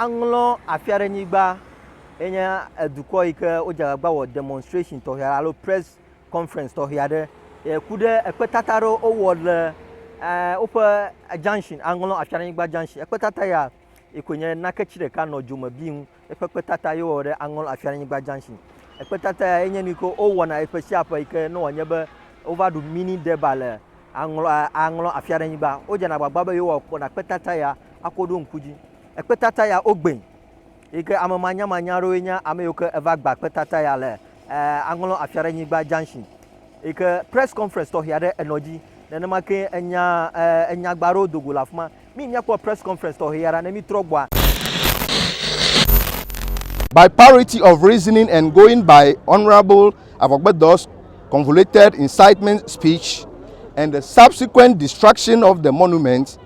Aŋlɔ afi aɖe nyigba ye nye edukɔ yi ke wodze agbagba wɔ demonstration tɔxɛ aɖe alo press conference tɔxɛ aɖe ye ku ɖe ekpetata aɖe wowɔ le e woƒe junction aŋlɔ afi aɖe nyigba junction. Ekpetata ya yi koe nye naketsi ɖeka nɔ dzome bi ŋu ye ƒe kpetata ye wowɔ ɖe aŋlɔ afi aɖe nyigba junction. Ekpetata ya ye nye nu yi ke wowɔna ƒe sia ƒe yi ke ne wòanye be wova ɖu mini deba le aŋlɔ aŋlɔ afi aɖe nyigba. Wodzena agbagba be yewoakpɔ na kpetata ya akɔ ɖo ŋku dzi. ekpetata ya wogbee yi ke ame manyamanya aɖewoe nye ame yiwo ke eva gba kpetata ya le Aŋlɔ Afia Ɖe Nyigba Junction yi ke press conference tɔxɛ aɖe enɔ dzi. Nenema ke enya enyagba aɖewo do go le afi ma. Mi míakpɔ press conference tɔxɛ ya ɖa ne mítrɔ gbɔa. By parity of reasoning and going by Honourable Avogbedo's convoluted incitement speech and the subsequent destruction of the monument,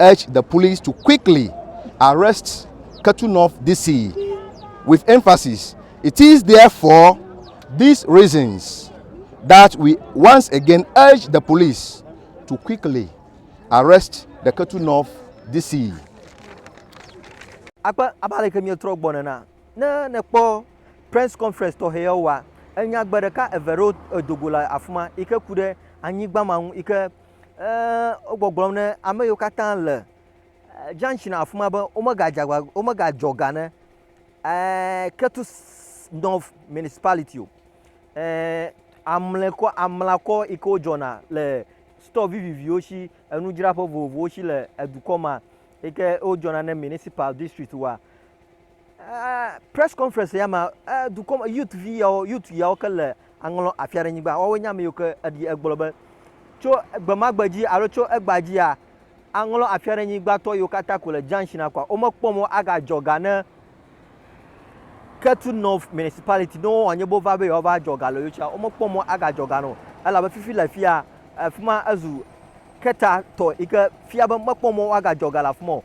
urged the police to quickly arrest Ketunov DC, with emphasis, It is therefore these reasons that we once again urge the police to quickly arrest the Ketunov DC. akpe abe ale ke míetrɔ gbɔ nena. Ne nèkpɔ press conference tɔxɛ yawo wa, enya gbe ɖeka eve ɖewo edo go le afi ma yi ke ku ɖe anyigba ma ŋu yi ke Eee, wo gbɔgblɔm ne ame yiwo katã le junction afi ma be womegadze agba, womegadze ɔga ne eee, Ketu North Municipality o. Eee, amlekɔ, amlakɔ yi ke wodzɔna le store viviviwo si, enudzraƒe vovovowo si le edukɔ ma yi ke wodzɔna ne Municipal District wa. Press conference ya ma dukɔ me youth vi yawo youth yawo ke le aŋlɔ afi aɖe nyigba woawo nye ame yiwo ke eɖi egblɔ be tso gbemagbe dzi alo tso egba dzia aŋlɔ afi aɖe nyigbatɔ yiwo katã ko le junction akwa womekpɔ mɔ agadzɔ ga ne Ketu North municipality ne wowɔ nye bo va be yewoava dzɔ ga le yotsia womekpɔ mɔ agadzɔ ga no elabe fifi le fia afima ezu keta tɔ yi ke fia be mekpɔ mɔ woagadzɔ ga le afima o